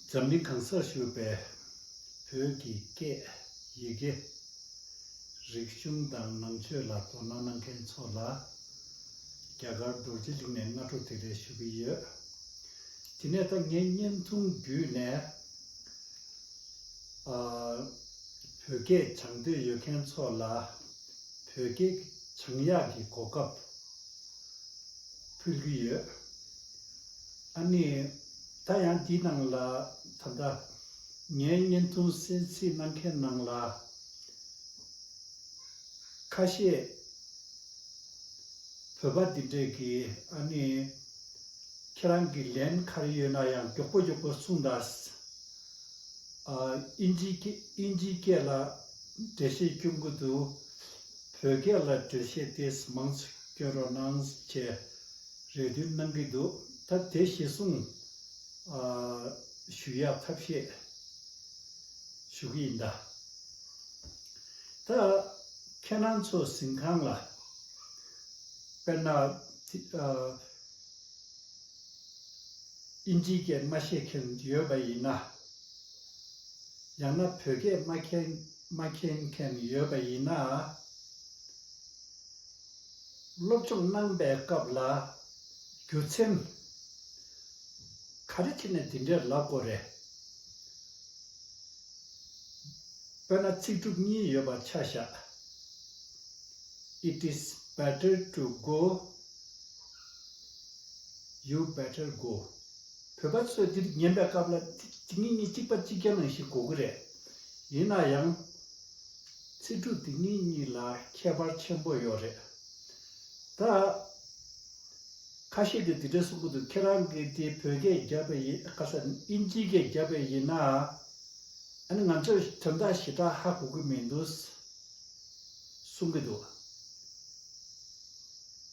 འཛམ་གླིང་གང་སར་བཞུགས་པའི་བོད་ཀྱི་སྐད་ཡི་གེ། རིག་གཞུང་དང་ནང་ཆོས་ལ་དོ་སྣང་གནང་མཁན་ཚོ་ལ། རྒྱ་གར་རྡོ་རྗེ་གླིང་ནས་སྔ་དྲོ་དེ་རེད་ཞུ་གི་ཡོད། དེ་ནས་ད་ངས་བརྙན་ཐུང་བརྒྱུད་ནས། བོད་སྐད་སྦྱང་འདོད་ཡོད་མཁན་ཚོ་ལ། བོད་སྐད་བྱང་ཡག་གི་གོ་སྐབས་ཕུལ་གྱི་ཡོད། ཨ་ནི་ད་ཡང་དེའི་ནང་ལ་ད་ལྟ་ངས་བརྙན་ཐུང་གསལ་ཚིགས་གནང་མཁན་ནང་ལ་ཁ་ཤས་བོད་པ་འདི་འདྲས་ཀྱིས་ཨ་ནི་ཁྱེད་རང་གི་ལན་ག་རེ་ཡོད་ན་ཡང་མགྱོགས་པོ་མགྱོགས་པོ་གསུངས་དང། ཨིན་ཇིའི་སྐད་ལ་འགྲེལ་བཤད་སྐྱོན་གྱི་འདུག། བོད་སྐད་ལ་འགྲེལ་བཤད་དེས་མང་ཚོད་སྐྱོན་རོགས་གནང། ཅེས་རེ་འདུན་གནང་གི་འདུག་ད་དེ་གཞི་བཟུང་ཞུ་ཡག་ཐབས་ཤེས་ཞུ་གི་ཡིན་ད། ད་ཁྱེད་རང་ཚོ་ཟིན་ཁང་ལ་དཔེར་ན། ཨིན་ཇིའི་སྐད་མ་ཤེས་མཁན་ཡོད་པ་ཡིན་ན། ཡང་ན་བོད་སྐད་མ་མཁྱེན་མ་མཁྱེན་མཁན་ཡོད་པ་ཡིན་ན། སློབ་སྦྱོང་གནང་པའི་སྐབས་ལ་རྒྱུ་མཚན་ག་རེ་ཐད་ནས་འདི་འདྲའི་ལབ་དགོས་རེད། དཔེར་ན་ཚིག་གྲུབ་གཉིས་ཡོད་པར་ཆ་བཞག It is better to go You better go བོད་པ་ཚོས་འདིར་ཉན་པའི་སྐབས་ལ་ཚིག་ངེས་ངེས་གཅིག་པ་གཅིག་རྐྱང་རང་ཞིག་གོ་གི་རེད། ཡིན་ན་ཡང། ཚིག་འབྲུ་འདི་གཉིས་གཉིས་ལ་ཁྱད་པར་ཆེན་པོ་ཡོད་རེད། ད། ཁ་ཤས་ཀྱིས་འདི་འདྲ་གསུང་གི་འདུག་ཁྱེད་རང་གིས་དེ་བོད་སྐད་བརྒྱབ་པའི་ཡིན་ཁ་སང་དབྱིན་ཇིའི་སྐད་བརྒྱབ་པའི་ཡིན་ན། ཨ་ནི་ང་ཚོས་དོན་དག་ཞེ་དྲག་ཧ་གོ་གི་མི་འདུག་གསུང་གི་འདུག།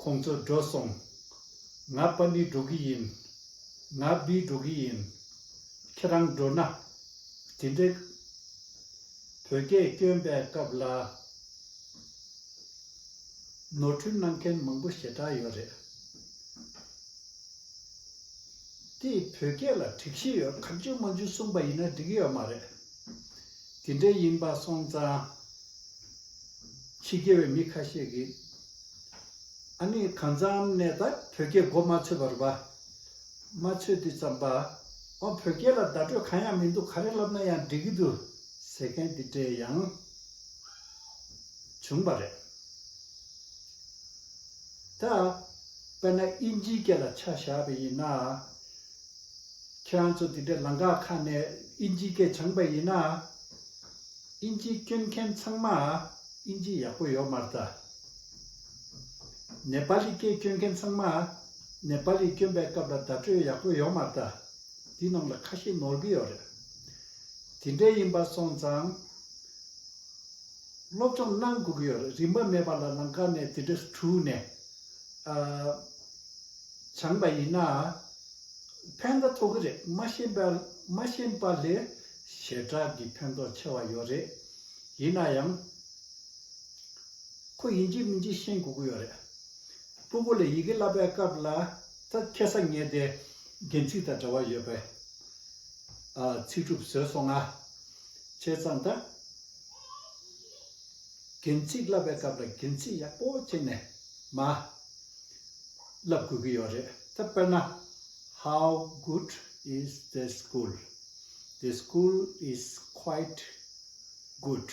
ཁོང་ཚོ་འགྲོ་སོང། ང་པ་ནི་འགྲོ་གི་ཡིན། ང་བི་འགྲོ་གི་ཡིན། ཁྱེད་རང་འགྲོ་ན། དེ་འདྲའི། བོད་སྐད་སྐྱོན་པའི་སྐབས་ལ། ནོར་འཁྲུལ་གནང་མཁན་མང་པོ་ཞེ་དྲག་ཡོད་རེད། དེ་བོད་སྐད་ལ་དྲེགས་ཤེས་ཡོད་ག་འཇུ་མ་འཇུ་གསུངས་པ་ཡིན་ན་འགྲིག་གི་ཡོད་མ་རེད། དེ་འདྲའི་ཡིན་པ་སོང་ཙང། ཕྱི་རྒྱལ་བའི་མི་ཁ་ཤས་ཀྱིས། ཨ་ནི་གང་ཙམ་ནས་ད་བོད་སྐད་མགོ་མ་ཚོས་པར་བ། མ་ཚོས་དུས་ཙམ་པ། ཨོ་བོད་སྐད་ལ་བརྡ་སྤྲོད་གང་ཡང་མི་འདུག་ག་རེ་ལབ་ན་ཡང་འགྲིག་གི་འདུག་ཟེར་མཁན་དེ་འདྲས་ཡང་བྱུང་བ་རེད། ད་དཔེར་ན་དབྱིན་ཇིའི་སྐད་ལ་ཆ་བཞག་པ་ཡིན་ན། ཁྱོད་རང་ཚོ་དེ་འདྲས་ལང་ཀ་ཁ་ནས་དབྱིན་ཇིའི་སྐད་སྦྱངས་པ་ཡིན་ན། དབྱིན་ཇིའི་སྐྱོན་མཁན་ཚང་མ་དབྱིན་ཇི་ཡག་པོ་ཡོད་མ་རེད་ད། ནེ་པ་ལི་སྐད་སྐྱོན་མཁན་ཚང་མ། ནེ་པ་ལི་སྐྱོན་པའི་སྐབས་ལ་བརྡ་སྤྲོད་ཡག་པོ་ཡོང་མ་ལྟ། འདི་རྣམས་ལ་ཁ་ཞེ་ནོར་གི་ཡོད་རེད། དེ་འདྲས་ཡིན་པ་སོང་ཙང། སློབ་སྦྱོང་གནང་དགོས་ཀྱི་ཡོད་རེད་རིན་པ་མེད་པ་ལ་ལང་ཀ་ནས་དེ་འདྲས་དྲུག་ནས། སྦྱངས་པ་ཡིན་ན། ཕན་ཐོག་ཐོག་གི་རེད་མ་ཤེས་པ་མ་ཤེས་པ་ལས་ཞེ་དྲག་གི་ཕན་ཐོག་ཆེ་བ་ཡོད་རེད། ཡིན་ན་ཡང། ཁོ་ཡིན་གཅིག་མིན་གཅིག་ཤེས་དགོས་ཀྱི་ཡོད་རེད། སྤུ་བོ་ལས་ཡི་གེ་བསླབ་པའི་སྐབས་ལ་ད་ཁྱད་ས་ངེས་ཏེ། རྒན་ཚིག་དང་འདྲ་བ་ཡོད་པས། ཚིག་གྲུབ་བཟོས་སོང་ང། བྱས་ཙང་ད། རྒན་ཚིག་བསླབ་པའི་སྐབས་ལ་རྒན་ཚིག་ཡག་པོ་བྱས་ནས་མ། བསླབ་དགོས་ཀྱི་ཡོད་རེད་ད་དཔེར་ན། How good is the school? The school is quite good.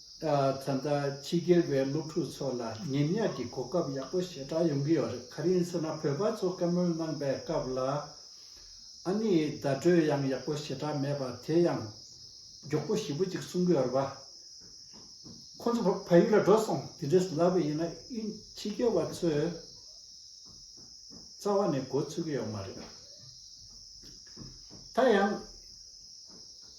ད་ལྟ་ཕྱི་རྒྱལ་བའི་སློབ་ཕྲུག་ཚོ་ལ་ངན་ཉག་གི་གོ་སྐབས་ཡག་པོ་ཞེ་དྲག་ཡོང་གི་ཡོད་རེད་ག་རེ་ཟེར་ན་བོད་པ་ཚོ་བཀའ་མོལ་གནང་པའི་སྐབས་ལ་ཨ་ནི་བརྡ་སྤྲོད་ཡང་ཡག་པོ་ཞེ་དྲག་མེད་པ་དེ་ཡང་མགྱོགས་པོ་ཞིབ་པོ་ཅིག་གསུང་གི་ཡོད་པ། ཁོ་ཚོ་ཕ་ཡུལ་ལ་འགྲོ་སོང་དེ་འདྲས་ལབ་པ་ཡིན་ན་དབྱིན་ཕྱི་རྒྱལ་བ་ཚོས་རྩ་བ་ནས་འགོ་ཚུགས་ཀྱི་ཡོད་མ་རེད། ད་ཡང།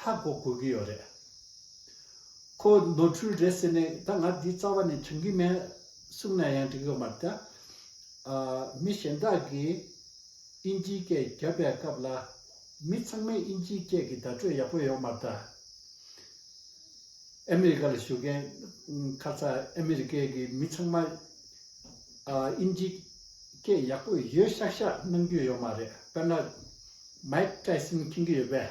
ཧ་གོ་དགོས་ཀྱི་ཡོད་རེད། ཁོ་ནོར་འཁྲུལ་རེད་ཟེར་ནས་ད་ང་འདི་རྩ་བ་ནས་བྱུང་གི་མེད་གསུངས་ན་ཡང་འགྲིག་ཡོད་མ་རེད། མི་གཞན་དག་གིས་དབྱིན་ཇིའི་སྐད་བརྒྱབ་པའི་སྐབས་ལ་མི་ཚང་མས་དབྱིན་ཇིའི་སྐད་ཀྱི་བརྡ་སྤྲོད་ཡག་པོ་ཡོད་མ་རེད། ཨ་མི་རི་ཀ་ལ་བཞུགས་མཁན་ཁ་ཚ་ཨ་མི་རི་ཀའི་གི་མི་ཚང་མ་དབྱིན་ཇིའི་སྐད་ཡག་པོ་ཡོད་ཤག་ཤག་གནང་རྒྱུ་ཡོད་མ་རེད་དཔེར་ན Mike Tyson མཁྱེན་གྱི་ཡོད་པས།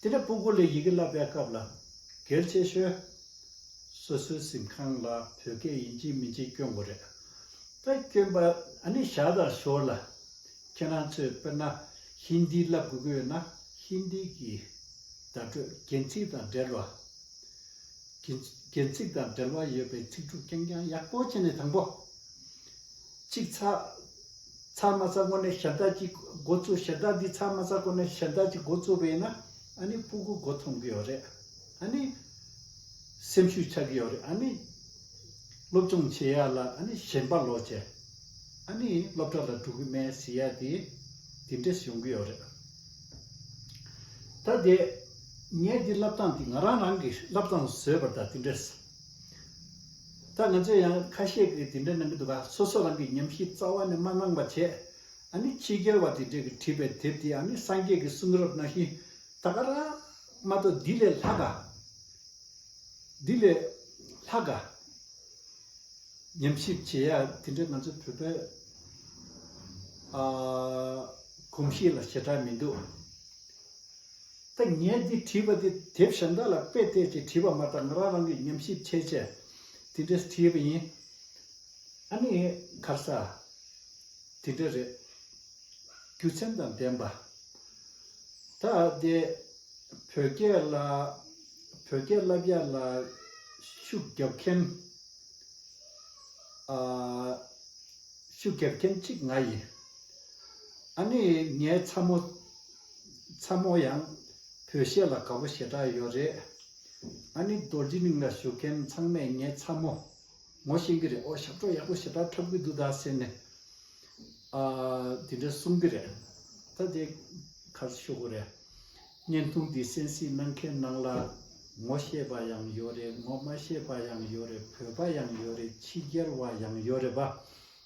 དེ་ནས་སྤུ་གུ་ལས་ཡི་གེ་བསླབ་པའི་སྐབས་ལ། གལ་ཆེ་ཤོས། སོ་སོའི་གཟིམ་ཁང་ལ་བོད་སྐད་ཡིན་གཅིག་མིན་གཅིག་སྐྱོན་དགོས་རེད། ད་སྐྱོན་པ་ཨ་ནི་བཞག་དང་ཞོར་ལ། ཁྱེད་རང་ཚོས་དཔེར་ན་ཧིན་དི་བསླབ་དགོས་ཀྱི་ཡོད་ན་ཧིན་དི་གི་བརྡ་སྤྲོད་རྒྱན་ཚིག་དང་འབྲེལ་བ། རྒྱན་ཚིག་དང་འབྲེལ་བ་ཡོད་པའི་ཚིག་གྲུབ་རྐྱང་རྐྱང་ཡག་པོ་བྱས་ནས་དང་པོ། གཅིག་ཚགས། ཚགས་མ་ཚགས་ཁོ་ནའི་ཞབས་བཏགས་ཀྱིས་འགོ་བཙུགས་ཞབས་བཏགས་འདི་ཚགས་མ་ཚགས་ཁོ་ནའི་ཞབས་བཏགས་ཀྱིས་འགོ་བཙུགས་པས་ན་ཨཱ་ནི་སྤུ་གུ་འགོ་ཐོན་གྱི་ཡོད་རེད་ཨཱ་ནི། སེམས་ཤུགས་ཆགས་ཀྱི་ཡོད་རེད་ཨཱ་ནི། སློབ་སྦྱོང་བྱེད་ཡག་ལ་ཨཱ་ནི་ཞན་པ་ལོག་བྱས་ཨཱ་ནི་སློབ་གྲྭ་ལ་འགྲོ་གི་མེད་ཟེར་ཡག་དེ་དེ་འདྲས་ཡོང་གི་ཡོད་རེད། ད་དེ། ངས་འདི་བསླབ་སྟངས་འདི་ང་རང་རང་གིས་བསླབ་སྟངས་བཟོས་པར་ད་དེ་འདྲས། ད་ང་ཚོས་ཡང་ཁ་ཤས་ཀྱིས་དེ་འདྲ་གནང་གི་འདུག་ག་སོ་སོ་རང་གི་ཉམས་གཞི་རྩ་བ་ནས་མ་གནང་བ་བྱས། ཨ་ནི་ཕྱི་རྒྱལ་བ་དེ་འདྲས་ཀྱིས་བྲིས་པའི་དེབ་དེ་ཨ་ནི་སངས་རྒྱས་ཀྱི་གསུང་རབ་ནང་བཞིན་ད་ག་ར་མ་གཏོགས་འདི་ལས་ལྷག་ག། འདི་ལས་ལྷག་ག། ཉམས་ཞིབ་བྱེད་ཡ་དེ་འདྲ་ང་ཚོ་བོད་པའི་གོམས་གཤིས་ལ་ཞེ་དྲག་མི་འདུག། ད་ངས་འདི་བྲིས་པ་འདི་དེབ་གཞན་དག་ལ་དཔེ་བལྟས་ཀྱིས་བྲིས་པ་མ་གཏོགས་ང་རང་རང་གིས་ཉམས་ཞིབ་བྱས་བྱས་དེ་འདྲས་བྲིས་པ་ཡིན། ཨ་ནི་གར་ས། དེ་འདྲ་རེད། རྒྱུ་མཚན་དང་ལྡན་པ། ད་དེ། བོད་སྐད་ལ། བོད་སྐད་བསླབ་རྒྱ་ལ། ཤུགས་རྒྱབ་མཁན། ཨ། ཤུགས་རྒྱབ་མཁན་གཅིག་ང་ཡིན། ཨ་ནི་ངའི་ཚ་མོ། ཚ་མོ་ཡང། བོད་གཞས་ལ་དགའ་པོ་ཞེ་དྲག་ཡོད་རེད། ཨ་ནི་རྡོ་རྗེ་གླིང་ལ་བཞུགས་མཁན་ཚང་མས་ངའི་ཚ་མོ། ངོ་ཤེས་ཀྱི་རེད་ཨོ་ཞབས་བྲོ་ཡག་པོ་ཞེ་དྲག་འཁྲབ་གི་འདུག་ད་ཟེར་ནས། ཨ། དེ་འདྲ་གསུང་གི་རེད། ད་དེ། ཁ་ས་ཤོག་གོ་རེད། བརྙན་ཐུང་འདི་གསན་གཟིགས་གནང་མཁན་ནང་ལ། ངོ་ཤེས་པ་ཡང་ཡོད་རེད་ངོ་མ་ཤེས་པ་ཡང་ཡོད་རེད་བོད་པ་ཡང་ཡོད་རེད་ཕྱི་རྒྱལ་བ་ཡང་ཡོད་རེད་པ།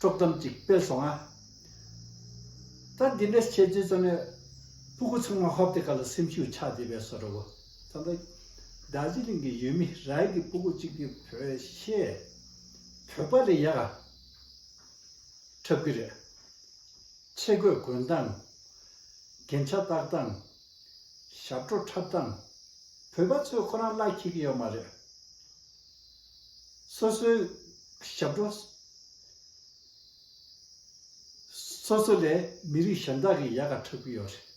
དཀྲོག་གཏམ་གཅིག་སྤེལ་སོང་ང། ད་འདི་འདྲ་བྱས་ཚུལ་ཙམ་ལས། སྤུ་གུ་ཚང་མ་ཧོབ་སྟེ་ག་ལ་སེམས་ཤུགས་ཆག་བསྡད་པའི་བཟོ་འདྲ་བོ་ཙམ་དང། རྡ་རྗེ་གླིང་གི་ཡུལ་མི་ར་ཡིག་གི་སྤུ་གུ་གཅིག་གིས་བོད་གཞས། བོད་པ་ལས་ཡག་ག་འཁྲབ་གི་རེད། ཆས་གོས་གོན་སྟངས། རྒྱན་ཆ་བཏགས་སྟངས། ཞབས་བྲོ་འཁྲབ་སྟངས། བོད་པ་ཚོས་ཁོ་རང་གླ་འཁྱིལ་གི་ཡོད་མ་རེད། སོ་སོའི་ཞབས་བྲོ། སོ་སོ་ལས་མི་རིགས་གཞན་དག་གི་ཡལ་ག་འཁྲབ་ཀྱི་ཡོད་རེད།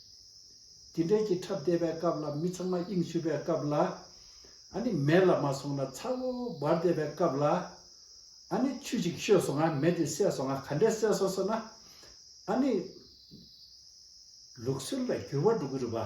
དེ་འདྲའི་གྱི་འཁྲབ་བསྡད་པའི་སྐབས་ལ་མི་ཚང་མ་དབྱིངས་ཕྱུག་པའི་སྐབས་ལ། ཨ་ནི་མེ་ལ་མ་སོང་ན་ཚ་བོ་བོར་བསྡད་པའི་སྐབས་ལ། ཨ་ནི་ཆུ་ཞིག་བཤོས་སོང་ང་མེ་དེ་བསད་སོང་ང་ག་འདྲའི་བསད་སོང་ཟེར་ན། ཨ་ནི། ལུགས་སྲོལ་ལ་འགྱུར་བ་འགྲོ་གི་རེད་བ།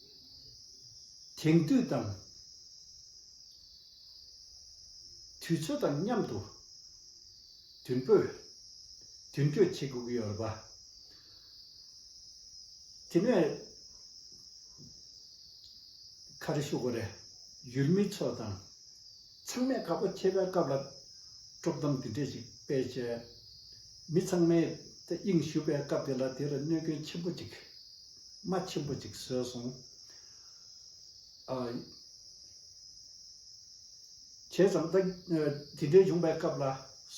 དེང་དུས་དང་དུས་ཚོད་དང་མཉམ་དུ་དུས་འབོད་དུས་བསྐྱོད་བྱེད་དགོས་ཀྱི་ཡོད་རེད་པ། དེ་ནས་ཁ་རེ་ཤོ་གོ་རེ་ཡུལ་མི་ཚོ་དང་ཚང་མས་ཁ་ཕོ་ཆེ་བའི་སྐབས་ལ་དཀྲོག་གཏམ་འདི་འདྲས་ཅིག་སྤེལ་བྱས། མི་ཚང་མས་དབྱིངས་ཞུ་བའི་སྐབས་དེ་ལ་དེར་གནོད་སྐྱོན་ཆེན་པོ་ཅིག། རྨ་ཆེན་པོ་ཅིག་ཟོས་སོང། བྱས་ཙང་ད་དེ་འདྲའི་བྱུང་བའི་སྐབས་ལ་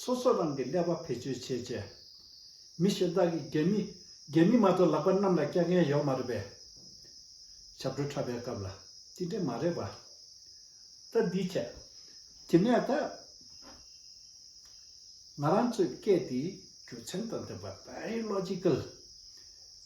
སོ་སོ་རང་གི་ཀླད་པ་བེད་སྤྱོད་བྱེད་ཅེས། མི་གཞན་དག་གིས་རྒན་མི་རྒན་མི་མ་གཏོགས་ལག་པ་གནམ་ལ་བཀྱག་མཁན་ཡོད་མ་རེད་པས། ཞབས་བྲོ་འཁྲབ་པའི་སྐབས་ལ་དེ་འདྲས་མ་རེད་པ། ད་འདི་བྱས། དེ་ནས་ད། ང་རང་ཚོའི་སྐད་དེའི་རྒྱུ་མཚན་དང་ལྡན་པ Dialogical།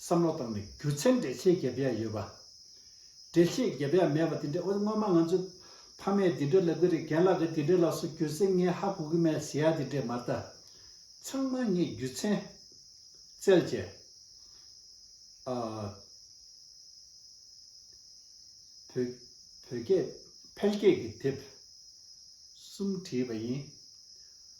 བསམ་བློ་བཏང་ནས་རྒྱུ་མཚན་འགྲེལ་བྱེད་བརྒྱབ་ཡ་ཡོད་པ། འགྲེལ་བྱེད་བརྒྱབ་ཡ་མེད་པ་དེ་འདྲ་ཨོ་སྔོན་མ་ང་ཚོས་ཕ་མས་དེ་འདྲ་ལབ་གི་རེད་རྒན་ལགས་ཀྱིས་དེ་འདྲ་ལབ་སོ་རྒྱུ་མཚན་ངས་ཧ་གོ་གི་མེད་ཟེར་ཡ་དེ་འདྲས་མ་རྟ། ཚང་མ་ངས་རྒྱུ་མཚན། བཙལ་བྱས། ཨ། བོད། བོད་སྐད། ཕལ་སྐད་ཀྱི་དེབ། གསུམ་བྲིས་པ་ཡིན།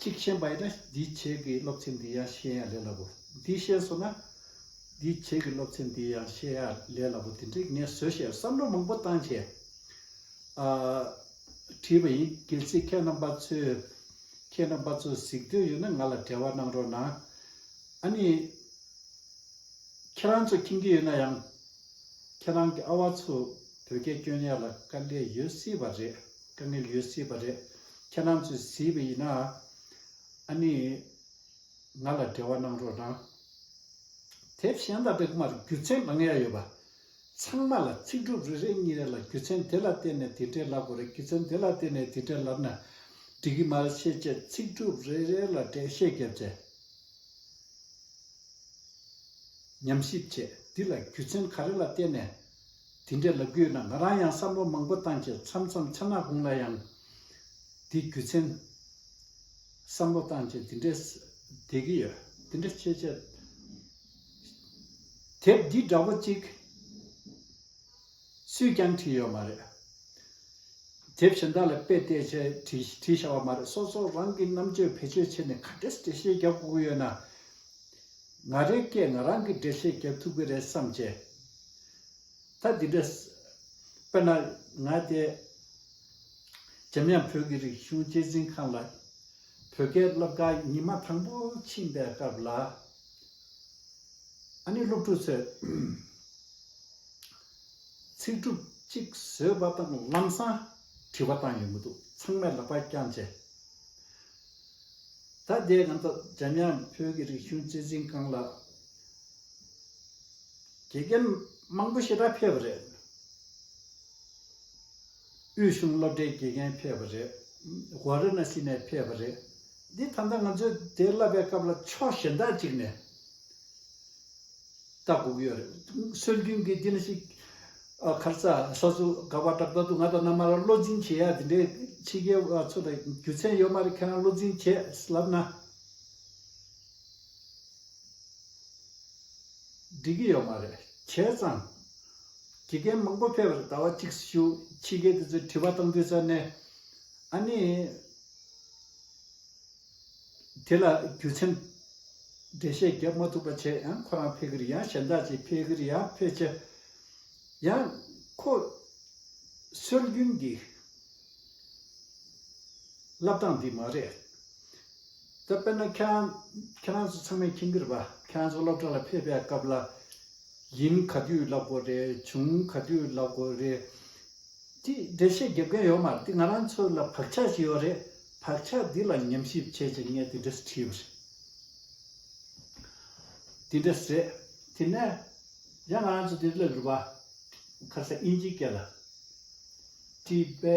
གཅིག་མཁྱེན་པ་ཡིན་ན་འདིའི་བྱེད་ཀྱི་སློབ་ཚན་འདི་ཡང་ཤེས་ཡག་ལས་སླ་པོ། འདི་ཤེས་སོང་ན། འདིའི་བྱེད་ཀྱི་སློབ་ཚན་འདི་ཡང་ཤེས་ཡག་ལས་སླ་པོ་དེ་འདྲའི་ངས་བཟོས་བཤད་བསམ་བློ་མང་པོ་བཏང་བྱས། བྲིས་པ་ཡིན་གལ་སྲིད་ཁྱེད་རྣམ་པ་ཚོས་ཁྱེད་རྣམ་པ་ཚོ་གཟིགས་འདོད་ཡོད་ན་ང་ལ་འབྲེལ་བ་གནང་རོགས་གནང། ཨ་ནི། ཁྱེད་རང་ཚོ་མཁྱེན་གྱི་ཡོད་ན་ཡང་ཁྱེད་རང་གི་ཨ་བ་ཚོས་བོད་སྐད་སྐྱོན་ཡག་ལ་དཀའ་ངལ་ཡོད་སྲིད་པ་རེད་དཀའ་ངལ་ཡོད་སྲིད་པ་རེད་ཁྱེད་རང་ཚོས་གཟིགས་པ་ཡིན་ན་ཨ་ནི་ང་ལ་འབྲེལ་བ་གནང་རོགས་གནང། དེ་བཞིན་ད་རེག་མར་རྒྱུ་ཚན་མང་ཡག་ཡོད་པ། ཚང་མ་ལ་ཚིག་གྲུབ་རེ་རེ་གཉིས་རེ་ལ་རྒྱུ་ཚན་དེ་ལ་བརྟེན་ནས་དེ་འདྲས་ལབ་དགོས་རེད་རྒྱུ་ཚན་དེ་ལ་བརྟེན་ནས་དེ་འདྲས་ལབ་ན་འགྲིག་གི་མ་རེད་ཤེས་བྱའི་ཚིག་གྲུབ་རེ་རེ་ལ་འགྲེལ་བཤད་བརྒྱབ་ཚེ། ཉམས་ཞིབ་བྱས། འདི་ལ་རྒྱུ་མཚན་ག་རེ་ལ་བརྟེན་ནས་དེ་འདྲའི་ལབ་རྒྱུ་ཡོད་ན་ང་རང་ཡང་བསམ་བློ་མང་པོ་བཏང་རྗེས་མཚམས་མཚམས་ཆ་ནག་དགུང་ལ་ཡང། དེ་རྒྱུ་མཚན། བསམ་བློ་བཏང་རྗེས་དེ་འདྲའི། བསྡད་ཀྱི་ཡོད། དེ་འདྲ་ཆེ་ཆེ། དེབ་འདི་འདྲ་བོ་གཅིག། སུས་ཀྱང་བྲིས་ཡོད་མ་རེད། དེ་བཞིན་བདག་ལ་དཔེ་བལྟས་ཚེ་བྲིས་བྱ་བ་མ་རེད་སོ་སོ་རང་གི་རྣམ་དཔྱོད་བེད་སྤྱོད་བྱས་ནས་ག་འདྲེ་འགྲེལ་བཤད་རྒྱག་དགོས་ཀྱི་ཡོད་ན། ང་རང་སྐད་ང་རང་གིས་འགྲེལ་བཤད་རྒྱག་ཐུབ་ཀྱི་རེད་བསམ་བྱས། ད་འདི་འདྲ། དཔེར་ན། ང་དེ། འཇམ་དབྱངས་བོད་ཀྱི་རིག་གཞུང་གཅེས་འཛིན་ཁང་ལ། བོད་སྐད་སློབ་གྲྭ་ཉི་མ་དང་པོ་ཕྱིན་པའི་སྐབས་ལ། ཨ་ནེ་སློབ་ཕྲུག་ཚོས་ཚིག་གྲུབ་གཅིག་བཟོས་པ་དང་ལམ་སང་དྲི་བ་བཏང་ཡོད་མི་འདུག་ཚང་མས་ལག་པ་བརྐྱངས་རྗེས། ད་ལྟའི་ང་ཚོ་འཇམ་དབྱངས་བོད་ཀྱི་རིག་གཞུང་རྩེ་གཟིགས་ཁང་ལ་དགེ་རྒན་མང་པོ་ཞིག་ར་འཕེལ་བ་རེད། དབུས་གཞུང་སློབ་གྲྭའི་དགེ་རྒན་ཕེབས་པ་རེད། བྷ་ར་ན་སི་ནས་ཕེབས་པ་རེད། འདི་ད་ལྟ་ང་ཚོས་དེ་བསླབ་པའི་སྐབས་ལ་ཕྱོགས་གཞན་དག་ཅིག་ནས་ལྟ་དགོས་ཀྱི་ཡོད་རེད། སྲོལ་རྒྱུན་གྱི་འདི་འདྲ་ཞིག་ཁར་རྩ་ས་ཚུ་ག་བ་འདྲ་ད་དུང་ང་དང་མནའ་མར་བློ་འཛིན་བྱེད་ཡ་དེ་འདྲའི་ཕྱི་རྒྱལ་བ་ཚོ་ལ་རྒྱུ་མཚན་ཡོད་མ་རེད་ཁྱེད་རང་བློ་འཛིན་བྱེད་ལབ་ན་འགྲིག་གི་ཡོད་མ་རེད་བྱས་ཙང། དགེ་རྒན་མང་པོ་ཕེབས་པར་ཟླ་བ་གཅིག་སུ་ཞུ་ཕྱི་རྒྱལ་དེ་ཚོས་དྲི་བ་གཏང་དུས་ས་གནས་ཨ་ནི་དེ་ལ་རྒྱུ་མཚན་འགྲེལ་བཤད་བརྒྱབ་མ་ཐུབ་པ་བྱས་ཡང་ཁོ་རང་ཕེ་གིར་ཡང་གཞན་དག་ཅིག་ཕེ་གིར་ཡང་ཕེ་ཆེ་ཡང་ཁོ་སྲོལ་རྒྱུན་གྱི་བསླབ་སྟངས་འདི་མ་རེད། ད་དཔེར་ན་ཁྱེད་རང་ཁྱེད་རང་ཚོ་ཚང་མས་མཁྱེན་གྱི་རེད་པ་ཁྱེད་རང་ཚོ་སློབ་གྲྭ་ལ་ཕེབས་པའི་སྐབས་ལ་ཡིན་ག་དུས་ལབ་དགོས་རེད་བྱུང་ག་དུས་ལབ་དགོས་རེད། ཅེས་འགྲེལ་བཤད་རྒྱབ་མཁན་ཡོད་མ་རེད་དེ་ང་རང་ཚོ་ལ་བག་ཆགས་ཤིག་ཡོད་རེད་བག་ཆགས་འདི་ལ་ཉམས་ཞིབ་བྱས་ཅིག་ངས་དེ་འདྲས་སུ་བྲིས་ཡོད་རེད། དེ་འདྲས་རེད། དེ་ནས་ཡང་ང་རང་ཚོ་དེ་སླེབས་རེད་པ། ཁ་སང་དབྱིན་ཇིའི་སྐད་ལ་བྲིས་པའི།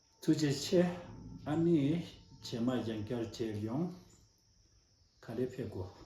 ཐུགས་རྗེ་ཆེ། ཨ་ནེ། བྱེ་མ་ཡང་བསྐྱར་གྱེར་ཡོང། ག་རེ་ཕེབས་དགོས།